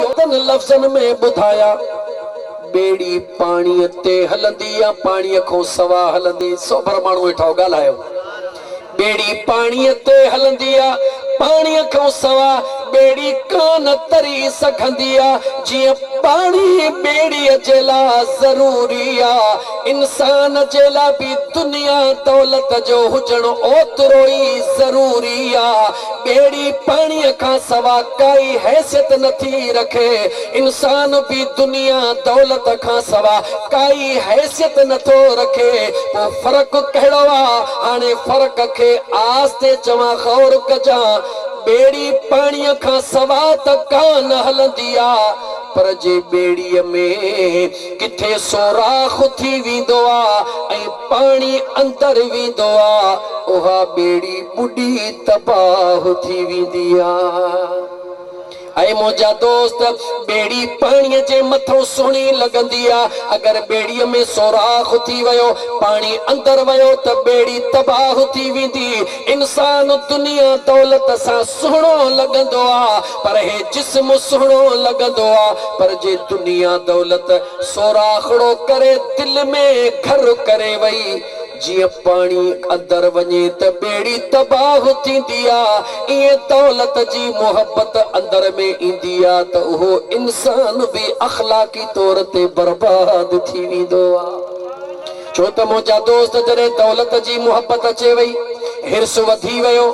ٿورن لفظن ۾ ٻڌايا، ٻيڙي پاڻيء تي هلندي يا پاڻيء کان سوا هلندي؟ سوڀر ماڻهو ويٺا هئا، ڳالهايو. ٻيڙي پاڻيء تي هلندي يا پاڻيء کان سوا؟ ٻيڙي ڪانه تري سگهندي يا جيئن پاڻي ٻيڙيء جي لا ضروري آ، انسان جي لا به دنيا دولت جو هجڻ اوترو ئي ضروري آ. ٻيڙي پاڻيء کان سوا ڪائي حيثيت نه ٿي رکي، انسان به دنيا دولت کان سوا ڪائي حيثيت نه ٿو رکي، پوء فرق ڪهڙو آ؟ هاڻي فرق کي آهستي چوان غور ڪجان، ٻيڙي پاڻيء کان سوا ته ڪا نه هلندي آ، پر جي ٻيڙيء ۾ ڪٿي سوراخ ٿي ويندو آ ۽ پاڻي اندر ويندو آ، اها ٻيڙي ٻڏي تباهه ٿي ويندي آ. اي منهنجا دوست! ٻيڙي پاڻيء جي مٿئون سهڻي لڳندي آ، اگر ٻيڙيء ۾ سوراخ ٿي ويو، پاڻي اندر ويو ته ٻيڙي تباهه ٿي ويندي. انسان دنيا دولت سان سهڻو لڳندو آ، پر هي جسم سهڻو لڳندو آ، پر جي دنيا دولت سوراخڙو ڪري دل ۾ گهر ڪري وئي. جيئن پاڻي اندر وڃي ته ٻيڙي تباهه ٿيندي آ، ايئن دولت جي محبت اندر ۾ ايندي آ ته اهو انسان به اخلاقي طور تي برباد ٿي ويندو آ. ڇو ته منهنجا دوست جڏهن دولت جي محبت اچي وئي، حرص وڌي ويو،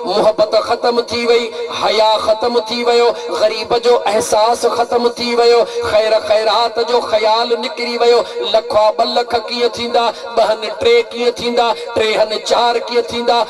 محبت ختم ٿي وئي، حياء ختم ٿي ويو، غريب جو احساس ختم ٿي ويو، خير خيرات جو خيال نڪري ويو، لکا ٻه لک ڪيئن ٿيندا، ٻهن ٽي ڪيئن ٿيندا، ٽيهن چار ڪيئن ٿيندا،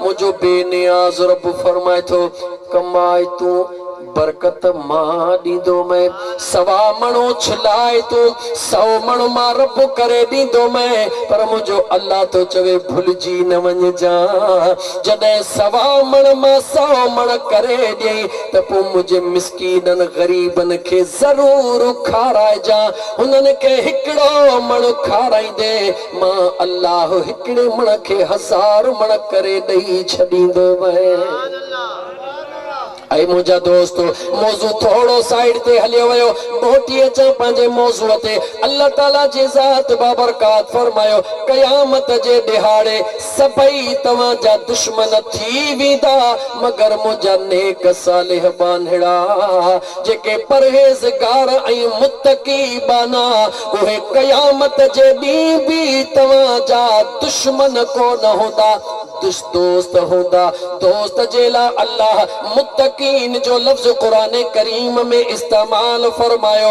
منهنجو بي نياز رب فرمائي ٿو، ڪمائي تون برڪت مان ڏيندو مئي، سوا مڻ اڇلائي تون سئو مڻ مان رب ڪري ڏيندو مئي، پر منهنجو الله ٿو چوي ڀلجي نه وڃجان، جڏهن سوا مڻ مان سئو مڻ ڪري ڏئين ته پوء منهنجي مسڪينن غريبن کي ضرور کارائجان، هنن کي هڪڙو مڻ کارائيندين. مان الله هڪڙي مڻ کي هزار مڻ ڪري ڏئي ڇڏيندو وئين. اي منهنجا دوستو! موضوع ٿورو سائيڊ تي هليو ويو، موٽي اچان پنهنجي موضوع تي. الله تعاليٰ جي ذات بابرڪات فرمايو، قيامت جي ڏهاڙي، سڀئي توهان جا دشمن ٿي ويندا مگر منهنجا نيڪ صالح ٻانهڙا، جيڪي پرهيزگار ۽ متقي ٻانها، اهي قيامت جي ڏينهن به توهان جا دشمن ڪو نه هوندا، دش دوست هوندا. دوست جي لاء الله متقين جو لفظ قرآن ڪريم ۾ استعمال فرمايو.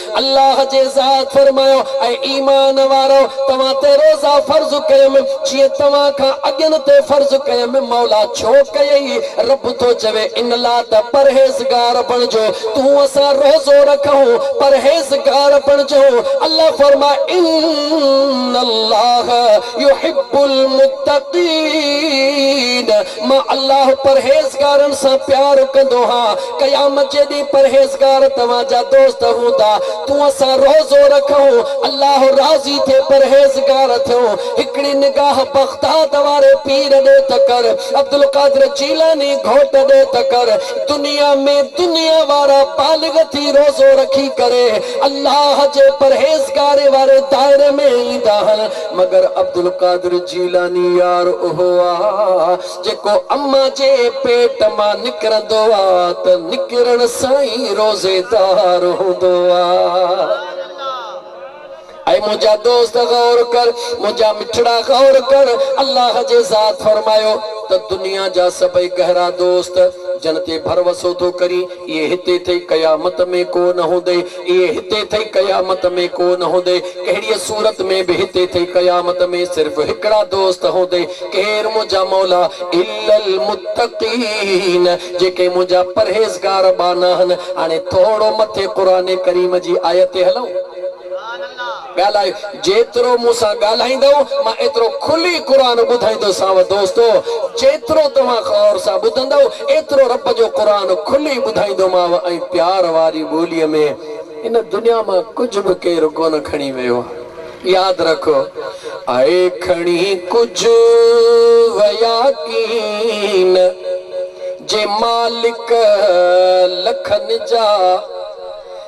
الله جي ذات فرمايو، اي ايمان وارؤ! توهان تي روزا فرض ڪيم، جيئن توهان کان اڳين تي فرض ڪيم. مولا ڇو ڪيئي؟ رب ٿو چوي، ان لاء ته پرهيزگار بڻجو. تون اسان روزو رکون، پرهيزگار بڻجون. الله فرمايو، ان الله يحب المتقين. مان الله پرهيزگارن سان پيار ڪندو هان، قيامت جي ڏينهن پرهيزگار توهان جا دوست هوندا، تون اسان روزو رکون، الله راضي ٿئي پرهيزگار ٿيون، هڪڙي نگاهه بغداد واري پير ڏي ته ڪر، عبدالقادر جيلاني گهوٽ ڏي ته ڪر، دنيا ۾ دنيا وارا بالغ ٿي روزو رکي ڪري الله جي پرهيزگاري واري دائري ۾ ايندا هن، مگر عبدالقادر جيلاني يار اهو آ جيڪو اما جي پيٽ مان نڪرندو آ ته نڪرڻ سان ئي روزيدار هوندو آ. اي منهنجا دوست غور ڪر منهنجا مٺڙا غور ڪر الله جي ذات فرمايو ته دنيا جا سڀئي گهرا دوست جن تي ڀروسو ٿو ڪرين اهي هتي ٿئي قيامت ۾ ڪو نه هوندي اهي هتي ٿئي قيامت ۾ ڪو نه هوندي ڪهڙيء صورت ۾ به هتي ٿئي قيامت ۾ صرف هڪڙا دوست هوندي ڪير منهنجا مولا الا المتقين جيڪي منهنجا پرهيزگار ٻانهاهن هاڻي ٿورو مٿي قرآن ڪريم جي آيت تي هلون. ڳالهاء، جيترو مون سان ڳالهائيندؤ، مان ايترو کلي قرآن ٻڌائيندوسانو دوستو! جيترو توهان غور سان ٻڌندؤ، ايترو رب جو قرآن کلي ٻڌائيندومانو ۽ پيار واري ٻوليء ۾. هن دنيا مان ڪجهه به ڪير ڪونه کڻي ويو آهي. ياد رکو. اهي کڻي ڪجهه ويا ڪين، جي مالڪ لکن جا.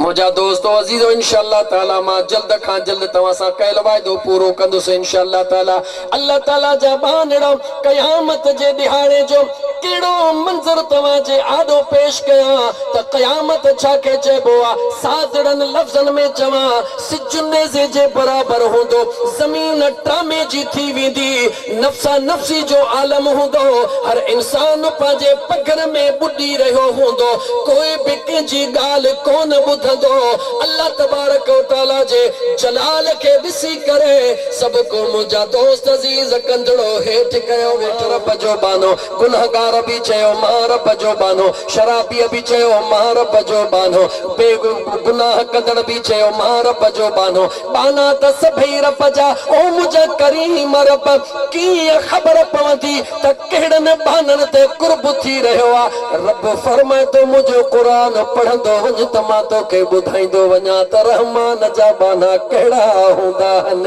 منهنجا دوستو عزيزو انشاء الله تعالي مان جلد کان جلد توهان سان ڪيل وعدو پورو ڪندس انشاء الله تعالي الله تعالي جا ٻانهڙا قيامت جي ڏهاڙي جو ڪهڙو منظر توهان جي آڏو پيش ڪيان ته قيامت ڇا کي چئبو آ ساڌڙن لفظن ۾ چوان سج نيزي جي برابر هوندو، زمين ٽامي جي ٿي ويندي، نفسا نفسي جو عالم هوندو، هر انسان پنهنجي پگهر ۾ ٻڏي رهيو هوندو، ڪو به ڪنهن جي ڳالهه ڪونه ٻڌندو، الله تبارڪ و تعاليٰ جي جلال کي ڏسي ڪري سڀڪو منهنجا دوست عزيز ڪندڙو هيٺ ڪيو ويٺو. رب جو ٻانهو گنهگار به چيو مان رب جو ٻانهو، شرابيء به چيو مان رب جو ٻانهو، بي گناهه ڪندڙ به چيو مان رب جو ٻانهو، ٻانها ته سڀئي رب جا، او منهنجا ڪريم رب! ڪيئن خبر پوندي ته ڪهڙن ٻانهن تي قرب ٿي رهيو آ؟ رب فرمائي ٿو منهنجو قرآن پڙهندو وڃ ته مان توکي ٻڌائيندو وڃان ته رحمان جا ٻانها ڪهڙا هوندا آهن.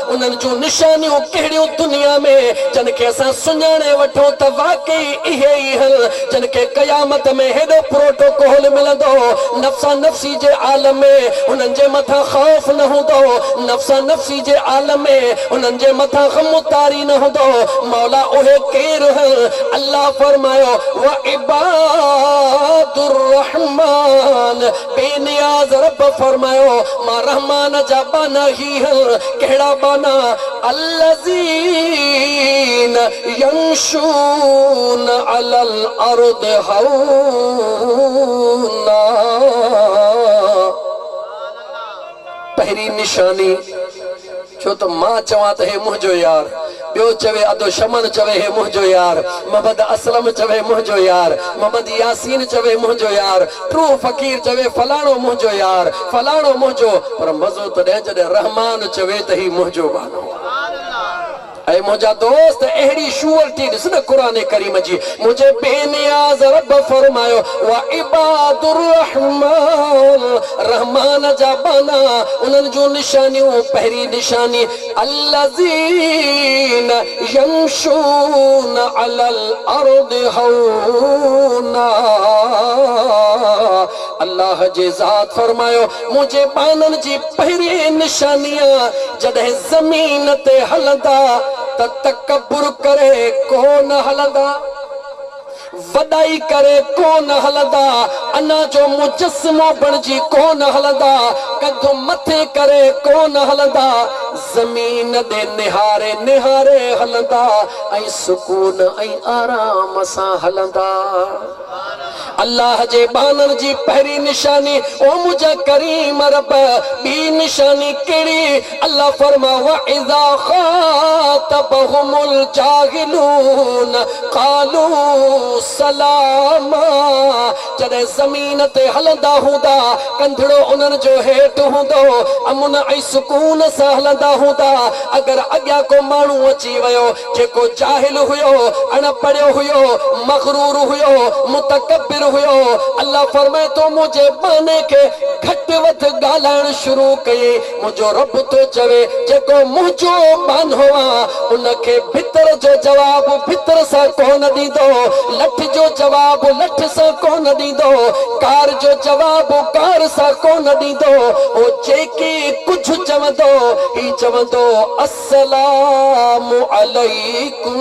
انهن جون نشانيون ڪهڙيون دنيا ۾، جن کي اسان سڃاڻي وٺون ته واقعي اهي ئي هن، جن کي قيامت ۾ هيڏو پروٽوڪول ملندو. نفسا نفسي جي عالم ۾ انهن جي مٿان خوف نه هوندو. نفسا نفسي جي عالم ۾ انهن جي مٿان غم و تاري نه هوندو. مولا اهي ڪير هن؟ الله فرمايو، وعباد الرحمان، بي نياز رب فرمايو، مان رحمان جا ٻانها هي. ايهن ڪهڙا ٻانها الذين يمشون علي الارض هونا، پهرين نشاني، ڇو ته مان چوان ته هي منهنجو يار. ٻيو چوي ادو شمن چوي هي منهنجو يار محمد اسلم چوي منهنجو يار محمد ياسين چوي منهنجو يار ٽوهه فقير چوي فلاڻو منهنجو يار فلاڻو منهنجو پر مزو تڏهن جڏهن رحمان چوي ته هي منهنجو ٻانهو آهي اي منهنجا دوست اهڙي شوئرٽي ڏس نه قرآن ڪريم جي منهنجي بي نياز رب فرمايو وعباد الرحمان رحمان جا ٻانها انهن جون نشانيون پهرين نشاني الذين يمشون علي الارض هونا الله جي ذات فرمايو منهنجي ٻانهن جي پهرين نشاني آ جڏهن زمين تي هلندا ته تڪبر ڪري ڪو نه هلندا. وڏائي ڪري ڪو نه هلندا، انا جو مجسمو بڻجي ڪو نه هلندا، ڪنڌ مٿي ڪري ڪو نه هلندا، زمين ڏي نهاري نهاري هلندا ۽ سڪون ۽ آرام سان هلندا. الله جي ٻانهن جي پهرين نشاني، او منهنجا ڪريم رب! ٻي نشاني ڪهڙي؟ الله فرمايو، واذا خاطبهم الجاهلون قالو سلاما جڏهن زمين تي هلندا هوندا، ڪنڌڙو انهن جو هيٺ هوندو، امن ۽ سڪون سان هلندا هوندا، اگر اڳيان ڪو ماڻهو اچي ويو جيڪو جاهل هيو، اڻ پڙهيو هيو، مغرور هيو، متڪبر هيو، الله فرمائي تو منهنجي ٻانهي کي گهٽ وڌ ڳالهائڻ شروع ڪيئي، منهنجو رب ٿو چوي، جيڪو منهنجو ٻانهو آ، ان کي ڀتر جو جواب ڀتر سان ڪونه ڏيندو، لٺ جو جواب لٺ سان ڪونه ڏيندو، گار جو جواب گار سان ڪونه ڏيندو، هو جيڪي ڪجهه چوندو، هي چوندو، السلام عليڪم،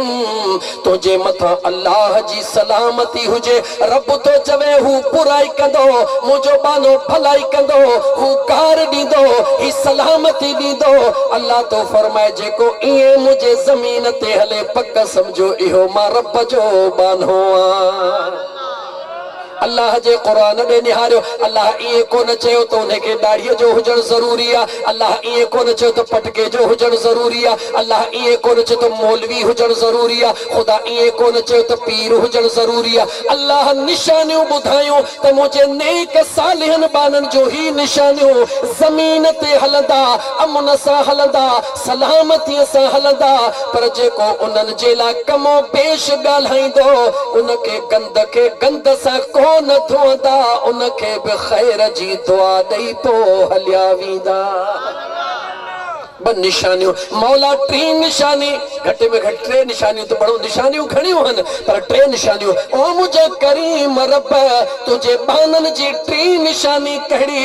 تنهنجي مٿان الله جي سلامتي هجي، رب ٿو چوي، هو برائي ڪندو، منهنجو ٻانهو ڀلائي ڪندو، هو گار ڏيندو، هي سلامتي ڏيندو، الله ٿو فرمائي، جيڪو ائين منهنجي زمين تي هلي، پڪ سمجهو اهو مان رب جو ٻانهو آهيان. الله جي قرآن ڏي نهاريو، الله ائين ڪونه چيو ته انهي کي ڏاڙهيء جو هجڻ ضروري آهي، الله ائين ڪونه چيو ته پٽڪي جو هجڻ ضروري آهي، الله ائين ڪونه چيو ته مولوي هجڻ ضروري آهي، خدا ائين ڪونه چيو ته پير هجڻ ضروري آهي، الله نشانيون ٻڌايون ته منهنجي نيڪ صالحن ٻانهن جو هي نشانيون زمين تي هلندا، امن سان هلندا، سلامتيء سان هلندا، پر جيڪو انهن جي لاء ڪم و بيش ڳالهائيندو، ان کي گند کي گند سان ڪو نه ڌوندا، ان کي به خير جي دعا ڏئي پوء هليا ويندا. ٻه نشانيون، مولا ٽين نشاني، گهٽ ۾ گهٽ ٽي نشانيون ته پڙهو، نشانيون گهڻيون هن، پر ٽي نشانيون، او منهنجا ڪريم رب! تنهنجي ٻانهن جي ٽين نشاني ڪهڙي؟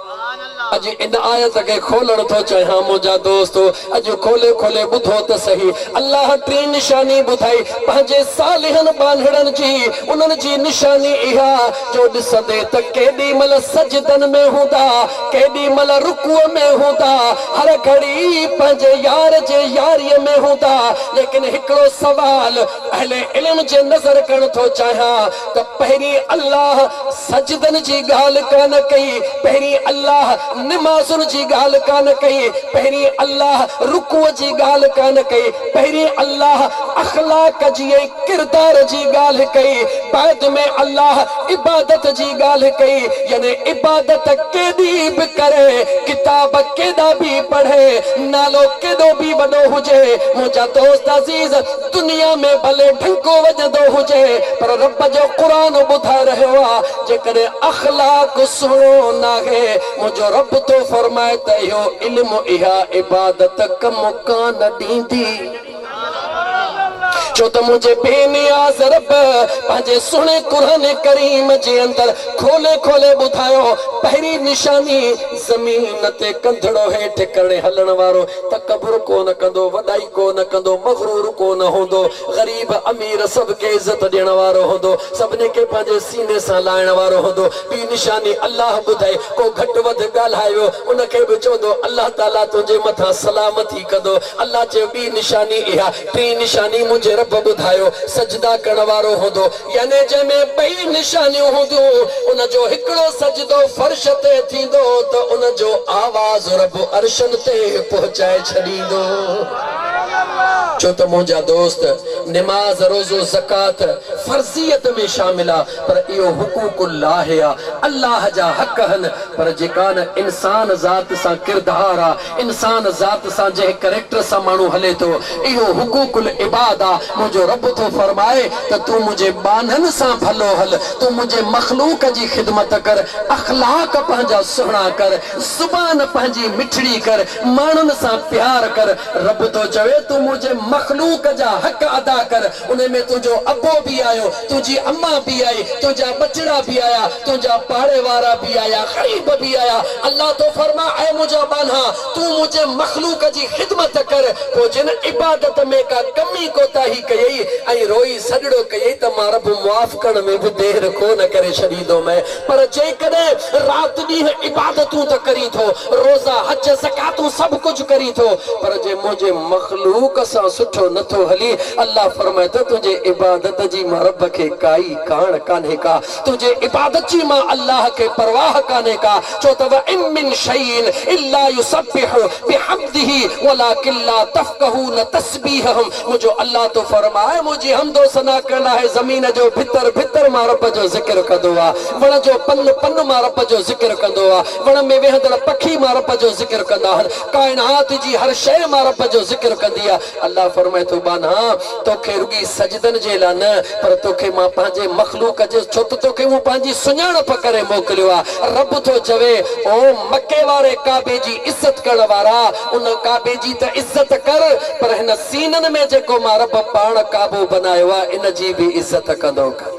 اڄ ان آيت کي کولڻ ٿو چاهيان منهنجا دوستو اڄ کولي کولي ٻڌو ته سهي الله ٽين نشاني ٻڌائي پنهنجي صالحن ٻانهڙن جي انهن جي نشاني اها جو ڏسندي ته ڪيڏي مهل سجدن ۾ هوندا ڪيڏي مهل رڪوع ۾ هوندا هر گهڙي پنهنجي يار جي ياريء ۾ هوندا ليڪن هڪڙو سوال اهل علم جي نظر ڪرڻ ٿو چاهيان ته پهرين الله سجدن جي ڳالهه ڪانه ڪئي، پهرين الله نمازن جي ڳالهه ڪانه ڪئي، پهرين الله رڪوع جي ڳالهه ڪانه ڪئي، پهرين الله اخلاق جي ۽ ڪردار جي ڳالهه ڪئي، بعد ۾ الله عبادت جي ڳالهه ڪئي، يعني عبادت ڪيڏي به ڪري، ڪتاب ڪيڏا به پڙهي، نالو ڪيڏو به وڏو هجي، منهنجا دوست عزيز! دنيا ۾ ڀلي ڍنڪو وڄندو هجي پر رب جو قرآن ٻڌائي رهيو آ جيڪڏهن اخلاق سهڻو ناهي منهنجو رب ٿو فرمائي ته اهو علم اها عبادت ڪم ڪانه ڏيندي ڇو ته منهنجي بي نياز رب پنهنجي سهڻي قرآن ڪريم جي اندر کولي کولي ٻڌايو پهرين نشاني زمين تي ڪنڌڙو هيٺ ڪرڻي هلڻ وارو تڪبر ڪو نه ڪندو، وڏائي ڪو نه ڪندو، مغرور ڪو نه هوندو، غريب امير سڀ کي عزت ڏيڻ وارو هوندو، سڀني کي پنهنجي سيني سان لائڻ وارو هوندو، ٻي نشاني الله ٻڌائي، ڪو گهٽ وڌ ڳالهائي ويو ان کي به چوندو الله تعاليٰ تنهنجي مٿان سلامتي ڪندو، الله چيو ٻي نشاني اها، ٽين نشاني منهنجي رب ٻڌايو، سجدا ڪرڻ وارو هوندو، يعني جنهن ۾ ٻئي نشانيون هونديون، ان جو هڪڙو سجدو فرش تي ٿيندو ته ان جو آواز رب عرشن تي پهچائي ڇڏيندو. چو ته منهنجا دوست، نماز، روزو، زڪوات فرضيت ۾ شامل آ، پر اهو حقوق الله آ، الله جا حق هن، پر جيڪا نه انسان ذات سان ڪردار آ، انسان ذات سان جنهن ڪريڪٽر سان ماڻهو هلي ٿو، اهو حقوق العباد آ، منهنجو رب ٿو فرمائي ته تون منهنجي ٻانهن سان ڀلو هل، تون منهنجي مخلوق جي خدمت ڪر، اخلاق پنهنجا سهڻا ڪر، زبان پنهنجي مٺڙي ڪر، ماڻهن سان پيار ڪر، رب ٿو چوي تون منهنجي مخلوق جا حق ادا ڪر، انهن ۾ تنهنجو ابو به آيو، تنهنجي اما به آئي، تنهنجا ٻچڙا به آيا، تنهنجا پاڙي وارا به آيا، غريب به آيا. الله ٿو فرمائي، اي منهنجا ٻانها! تون منهنجي مخلوق جي خدمت ڪر، پوء جن عبادت ۾ ڪا ڪمي ڪوتاهي ڪيئي ۽ روئي سڄڙو ڪيئي ته مان رب معاف ڪرڻ ۾ به دير ڪو نه ڪري ڇڏيندومئين. پر جيڪڏهن رات ڏينهن عبادتون ته ڪرين ٿو، روزا، حج، زڪواتون سڀ ڪجهه ڪرين ٿو، پر جي منهنجي مخلوق سان سٺو نه ٿو هلي، الله فرمائي ٿو تنهنجي عبادت جي مان رب کي ڪائي ڪاڻ ڪانهي ڪا، تنهنجي عبادت جي مان الله کي پرواهه ڪانهي ڪا، ڇو ته وئم من شيء الا يسبح بحمده ولڪن لا تفقهون تسبيحهم. منهنجو الله ٿو فرمائي، منهنجي حمد و ثنا ڪنهن لاء آهي، زمين جو ڀتر ڀتر مان رب جو ذڪر ڪندو آ، وڻ جو پن پن مان رب جو ذڪر ڪندو آ، وڻ ۾ ويهندڙ پکي مان رب جو ذڪر ڪندا آهن، ڪائنات جي هر شيء مان رب جو ذڪر ڪندي آ، الله فرمائي ٿو ٻانها تو کي رڳي سجدن جي لا نه پر تو کي مان پنهنجي مخلوق جي ڇو ته تو کي مون پنهنجي سڃاڻپ ڪري موڪليو آ، رب ٿو چوي، او مڪي واري ڪعبي جي عزت ڪرڻ وارا! ان ڪعبي جي ته عزت ڪر پر هن سينن ۾ جيڪو مان رب پاڻ ڪعبو بنايو آهي ان جي به عزت ڪندو ڪر.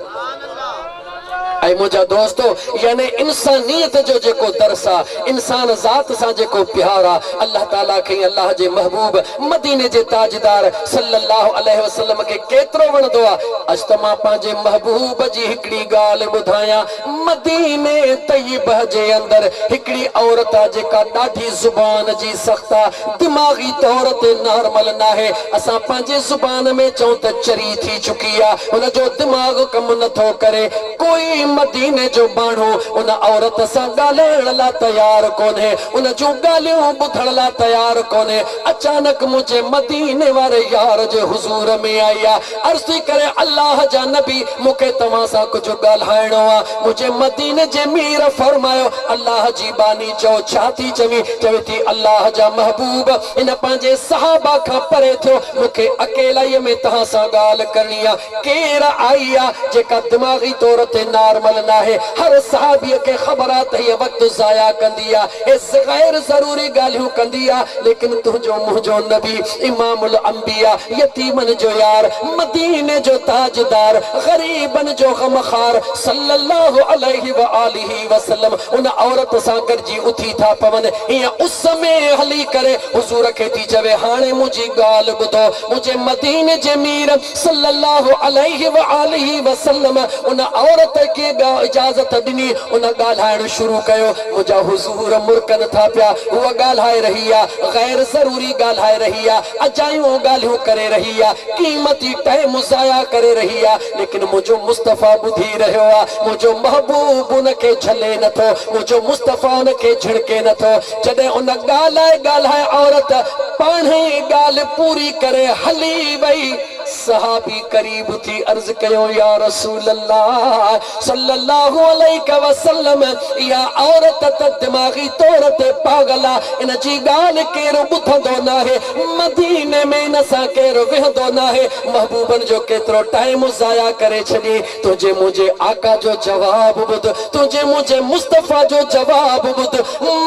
اي منهنجا دوستو! يعني انسانيت جو جيڪو درس آ، انسان ذات سان جيڪو پيار آ، الله تعاليٰ کي ۽ الله جي محبوب مديني جي تاجدار صلّي اللّٰه عليه وسلّم کي ڪيترو وڻندو آ. اچ ته مان پنهنجي محبوب جي هڪڙي ڳالهه ٻڌايان. مديني طيبه جي اندر هڪڙي عورت آ جيڪا ڏاڍي زبان جي سخت آ دماغي طور تي نارمل ناهي اسان پنهنجي زبان ۾ چئون ته چري ٿي چڪي آ ان جو دماغ ڪم نٿو ڪري ڪوئي مديني جو ماڻهو ان عورت سان ڳالهائڻ لا تيار ڪونهي ان جون ڳالهيون ٻڌڻ لا تيار ڪونهي اچانڪ منهنجي مديني واري يار جي حضور ۾ آئي آ عرض ڪري الله جا نبي مون کي توهان سان ڪجهه ڳالهائڻو آ منهنجي مديني جي مير فرمايو الله جي ٻانهي چئو ڇا ٿي چوين چوي ٿي الله جا محبوب هن پنهنجي صحابه کان پري ٿيو مون کي اڪيلائي ۾ توهان سان ڳالهه ڪرڻي آ ڪير آئي آ جيڪا دماغي طور تي نارمل ناهي هر صحابي کي خبر آ ته هيء وقت ضايع ڪندي آ هيء غير ضروري ڳالهيون ڪندي آ ليڪن تنهنجو منهنجو نبي امام الانبياء يتيمن جو يار، مديني جو تاجدار، غريبن جو غم خار صلّي اللّٰه عليه واٰله وسلّم ان عورت سان گڏجي اٿي ٿا پون، ايئن اس ۾ هلي ڪري حضور کي ٿي چوي، هاڻي منهنجي ڳالهه ٻڌو، منهنجي مديني جي مير صلّي اللّٰه عليه واٰله وسلّم ان عورت کي اجازت ڏني، ان ڳالهائڻ شروع ڪيو، منهنجا حضور! حور مرڪن ٿا پيا، هوء ڳالهائي رهي آ، غير ضروري ڳالهائي رهي آ، اجايون ڳالهيون ڪري رهي آ، قيمتي ٽائيم ضايع ڪري رهي آ، ليڪن منهنجو مصطفيٰ ٻڌي رهيو آ، منهنجو محبوب ان کي جهلي نه ٿو، منهنجو مصطفيٰ ان کي جهڙڪي نه ٿو. جڏهن ان ڳالهائي ڳالهائي عورت پاڻهئي ڳالهه پوري ڪري هلي وئي. صحابي قريب ٿي عرض ڪيو، يا رسول الله صلّي الله عليه وسلّم اها عورت ته دماغي طور تي پاڳل آ، ان جي ڳالهه ڪير ٻڌندو ناهي، مديني ۾ ان سان ڪير ويهندو ناهي، محبوبن جو ڪيترو ٽائيم ضايع ڪري ڇڏين. تنهنجي منهنجي آقا جو جواب ٻڌ، تنهنجي منهنجي مصطفيٰ جو جواب ٻڌ،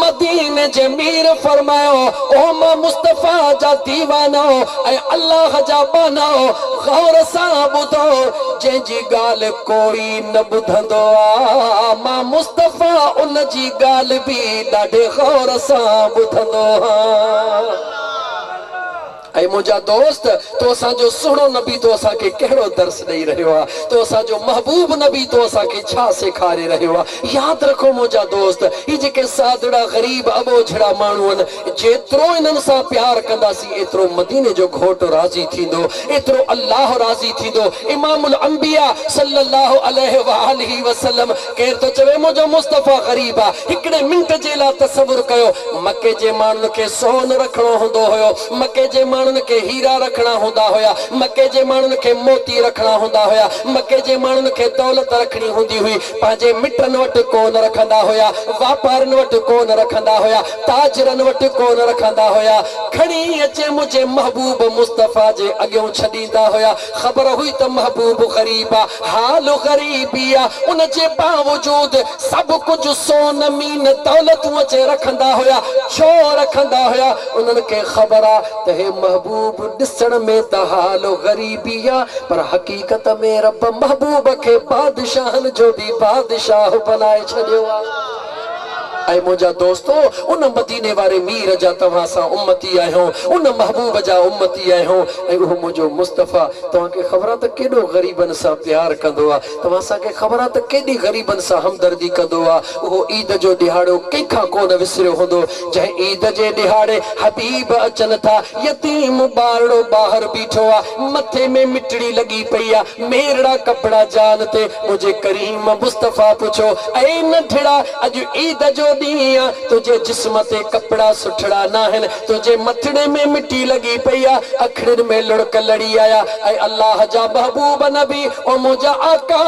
مديني جي مير فرمايو، او مان مصطفيٰ جا ديوانو ۽ الله جا ٻانهو! غور سان ٻڌو، جنهن جي ڳالهه ڪوئي نه ٻڌندو آ، مان مصطفيٰ ان جي ڳالهه به ڏاڍي غور سان ٻڌندو هان. اي منهنجا دوست! تو اسان جو سهڻو نبي تو اسان کي ڪهڙو درس ڏئي رهيو آهي؟ تو اسان جو محبوب نبي تو اسان کي ڇا سيکاري رهيو آهي؟ ياد رکو منهنجا دوست! هي جيڪي سادڙا، غريب، اٻوجهڙا ماڻهو آهن، جيترو انهن سان پيار ڪنداسين، ايترو مديني جو گهوٽ راضي ٿيندو، ايترو الله راضي ٿيندو، امام الانبياء صلّي اللّٰه عليه واٰله وسلّم ڪير ٿو چوي منهنجو مصطفيٰ غريب آ؟ هڪڙي منٽ جي لا تصور ڪيو مڪي جي ماڻهن کي سون رکڻو هوندو هيو، مڪي جي ماڻهن کي هيرا رکڻا هوندا هيا، مڪي جي ماڻهن کي موتي رکڻا هوندا هيا، مڪي جي ماڻهن کي دولت رکڻي هوندي هئي، پنهنجي مٽن وٽ ڪو نه رکندا هيا، واپارين وٽ ڪو نه رکندا هيا، تاجرن وٽ ڪو نه رکندا هيا، کڻي اچي منهنجي محبوب مصطفيٰ جي اڳيون ڇڏيندا هيا. خبر هئي ته محبوب غريب آ، حال غريبي آ، ان جي باوجود سڀ ڪجهه سون مين دولتون اچي رکندا هيا، ڇو رکندا هيا؟ انهن کي خبر آ ته هي محبوب ڏسڻ ۾ ته حال غريبي آ، پر حقيقت ۾ رب محبوب کي بادشاهن جو به بادشاهه بنائي ڇڏيو آ. اي منهنجا دوستو! ان مديني واري مير جا توهان اسان امتي آهيون، ان محبوب جا امتي آهيون ۽ اهو منهنجو مصطفيٰ توهان کي خبر آ ته ڪيڏو غريبن سان پيار ڪندو آ، توهان اسان کي خبر آ ته ڪيڏي غريبن سان همدردي ڪندو آ، اهو عيد جو ڏيهاڙو ڪنهن کان ڪونه وسريو هوندو، جنهن عيد جي ڏيهاڙي حبيب اچن ٿا، يتيم ٻارڙو ٻاهر بيٺو آ، مٿي ۾ مٽڙي لڳي پئي آ، ميرڙا ڪپڙا جان تي منهنجي ڪريم مصطفيٰ پڇيو، اي ننڍڙا! اڄ عيد جو ڏينهن آ، تنهنجي جسم تي ڪپڙا سٺڙا ناهن، تنهنجي مٿڙي ۾ مٽي لڳي پئي آ، اکڙين ۾ لڙڪ لڙي آيا، اي الله جا محبوب نبي! او منهنجا آقا!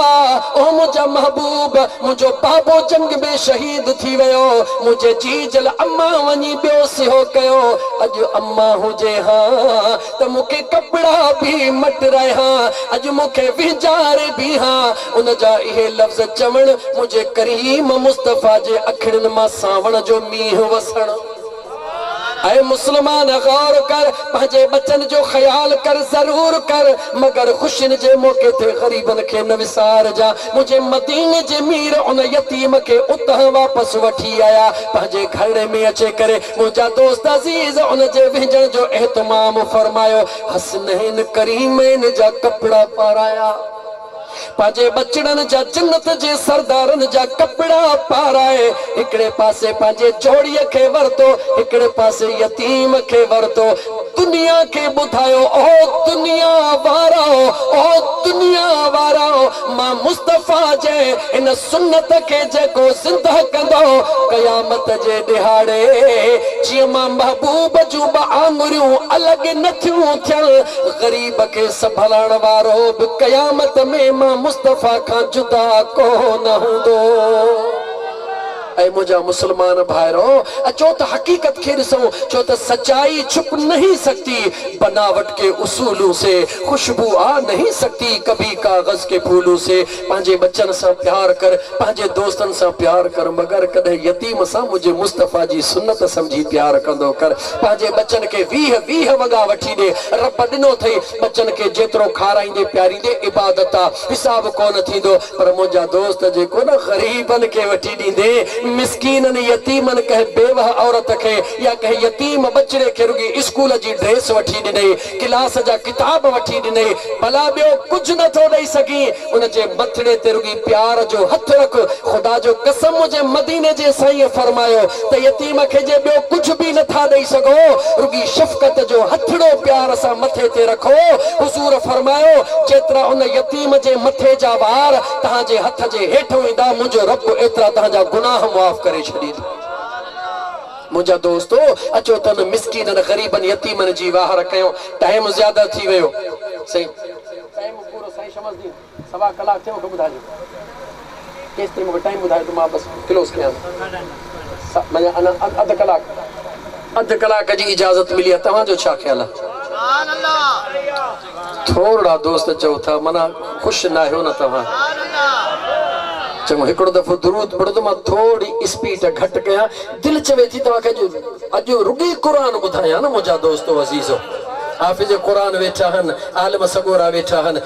او منهنجا محبوب! منهنجو بابو جنگ ۾ شهيد ٿي ويو، منهنجي جيجل امان وڃي ٻيو سهيو ڪيو، اڄ امان هجي هان ته مون کي ڪپڙا به مٽ رهيان، اڄ مون کي وهنجاري بيهان. ان جا اهي لفظ چوڻ، منهنجي ڪريم مصطفيٰ جي اکڙين مان سانوڻ جو مينهن وسڻ. اي مسلمان! غور ڪر، پنهنجي ٻچن جو خيال ڪر، ضرور ڪر، مگر خوشين جي موقعي تي غريبن کي نه وسارجان. منهنجي مديني جي مير ان يتيم کي اتان واپس وٺي آيا، پنهنجي گهرڙي ۾ اچي ڪري منهنجا دوست عزيز ان جي وهنجڻ جو اهتمام فرمايو، حسنين ڪريمين جا ڪپڙا پارايا، پنهنجي ٻچڙن جا جنت جي سردارن جا ڪپڙا پارائي هڪڙي پاسي پنهنجي جوڙيء کي ورتو، هڪڙي پاسي يتيم کي ورتو، دنيا کي ٻڌايو او دنيا وارؤ، او دنيا وارؤ، مان مصطفيٰ جي ان سنت کي جيڪو زندهه ڪندو قيامت جي ڏهاڙي جيئن مان محبوب جون ٻه آڱريون الڳ نه ٿيون ٿين، غريب کي سنڀالڻ وارو به قيامت ۾ مان مصطفيٰ کان جدا ڪو نه هوندو. اي منهنجا مسلمان ڀائرو! اچو ته حقيقت کي ڏسون، ڇو ته سچائي ڇپ نهين سگتي، بناوٽ ڪي اصولون سي، خوشبو آ نهين سگتي، ڪڀي ڪاغذ ڪي ڦولون سي، پنهنجي ٻچن سان پيار ڪر، پنهنجي دوستن سان پيار ڪر، مگر ڪڏهن يتيم سان منهنجي مصطفيٰ جي سنت سمجهي پيار ڪندو ڪر، پنهنجي ٻچن کي ويهه ويهه وڳا وٺي ڏي، رب ڏنو ٿئي، ٻچن کي جيترو کارائيندي پياريندي عبادت آ، حساب ڪونه ٿيندو. پر منهنجا دوست جيڪو نه غريبن کي وٺي ڏيندي، مسڪينن، يتيمن، ڪنهن بيوهه عورت کي يا ڪنهن يتيم ٻچڙي کي رڳي اسڪول جي ڊريس وٺي ڏنئي، ڪلاس جا ڪتاب وٺي ڏنئي، ڀلا ٻيو ڪجهه نه ٿو ڏئي سگهين؟ ان جي مٿڙي تي رڳي پيار جو هٿ رک. خدا جو قسم منهنجي مديني جي سائينء فرمايو ته يتيم کي جي ٻيو ڪجهه به نه ٿا ڏئي سگهو، رڳي شفقت جو هٿڙو پيار سان مٿي تي رکو. حضور فرمايو، جيترا ان يتيم. ڪريم جي مٿي جا وار تنهان جي هٿ جي هيٺ هوندا منهنجو رب ايترا تنهان جا گناهه معاف ڪري ڇڏيندو منهنجا دوستو اچو ته انهن مسڪينن غريبن يتيمن جي واهر ڪيون ٽائيم زياده ٿي ويو سائين ٽائيم پورو سائين شمس الدين سوا ڪلاڪ ٿيو مونکي ٻڌائجو. ڪيستائين مون کي ٽائيم ٻڌايو ته مان بس ڪلوز ڪيان. منهنجا اڃا اڌ ڪلاڪ اڌ ڪلاڪ جي اجازت ملي آهي توهان جو ڇا خيال آهي؟ ٿورڙا دوست چئو ٿا منا خوش ناهيو نه توهان؟ چڱو هڪڙو دفعو درود پڙهو ته مان ٿورڙي اسپيڊ گهٽ ڪيان دل چوي ٿي توهان کي اڄ رڳي قرآن ٻڌايان نه منهنجا دوستو عزيزو. حافظ قرآن ويٺا آهن عالم سڳورا ويٺا آهن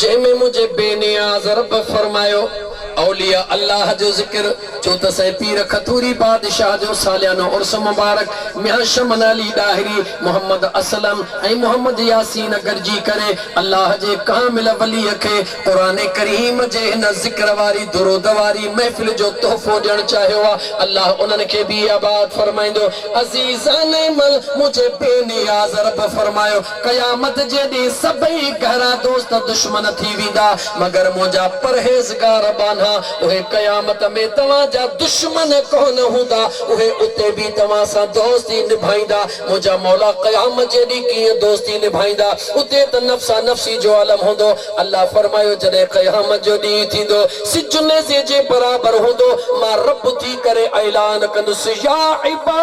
جنهن ۾ منهنجي بي نياز رب فرمايو اولياء الله جو ذڪر ڇو ته سائين پير کٿوري بادشاهه جو ساليانو عرس مبارڪ ميان شمن علي ڏاهري، محمد اسلم ۽ محمد ياسين گڏجي ڪري الله جي ڪامل وليء کي قرآن ڪريم جي هن ذڪر واري درود واري محفل جو تحفو ڏيڻ چاهيو آ الله انهن کي به آباد فرمائيندو عزيزان مل منهنجي بي نياز رب فرمايو قيامت جي ڏينهن سڀئي گهرا دوست دشمن ٿي ويندا، مگر منهنجا پرهيزگار ٻانها، اهي قيامت ۾ توهان جا دشمن ڪونه هوندا، اهي اتي به توهان سان دوستي نڀائيندا. منهنجا مولا قيامت جي ڏينهن ڪيئن دوستي نڀائيندا؟ اتي ته نفسا نفسي جو عالم هوندو. الله فرمايو، جڏهن قيامت جو ڏينهن ٿيندو، سج نيزي جي برابر هوندو، مان رب ٿي ڪري اعلان ڪندس، يا عباد!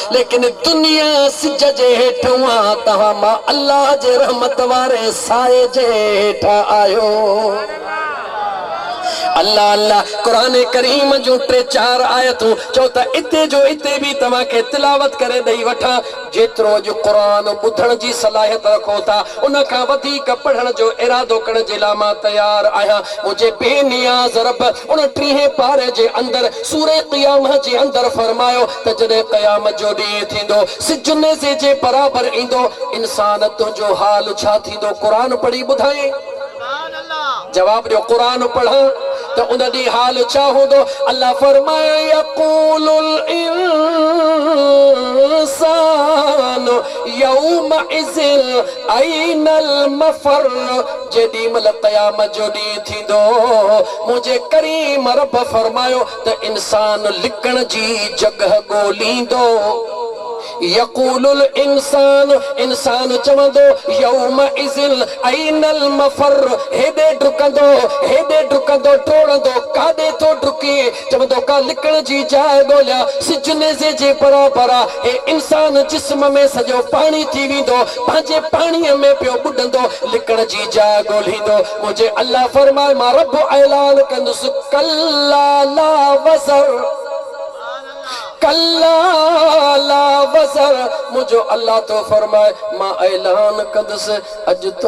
ليڪن دنيا سج جي هيٺ هئان توهان مان الله جي رحمت واري سايي جي هيٺ آهيو الله الله قرآن ڪريم جون ٽي چار آيتون چئو ته اتي جو اتي به توهان کي تلاوت ڪري ڏئي وٺان جيترو اڄ قرآن ٻڌڻ جي صلاحيت رکو ٿا ان کان وڌيڪ پڙهڻ جو ارادو ڪرڻ جي لاء مان تيار آهيان منهنجي بي نياز رب ان ٽيهين پاري جي اندر سورة قيامة جي اندر فرمايو ته جڏهن قيامت جو ڏينهن ٿيندو، سج نيزي جي برابر ايندو، انسان تنهنجو حال ڇا ٿيندو؟ قرآن پڙهي ٻڌائين؟ جواب ڏيو قرآن پڙهان ته ان ڏينهن حال ڇا هوندو؟ الله فرمايائين، يقول الانسان يومئذ اين المفر جيڏيمهل قيامت جو ڏينهن ٿيندو، منهنجي ڪريم رب فرمايو، ته انسان لڪڻ جي جڳهه ڳوليندو. يقول الانسان، انسان چوندو، يومئذ اين المفر، هيڏي ڊڪندو، هيڏي ڊڪندو، ڊوڙندو، ڪاڏي ٿو ڊڪي؟ چوندو، ڪا لڪڻ جي جاء ڳوليان، سج نيزي جي برابر آ، هي انسان جسم ۾ سڄو پاڻي ٿي ويندو، پنهنجي پاڻيء ۾ پيو ٻڏندو، لڪڻ جي جاء ڳوليندو، پوء جي الله فرمائي مان رب اعلان ڪندس ڪلا لا وزر ڪلا لا وزر منهنجو الله ٿو فرمائي مان اعلان ڪندس اڄ تو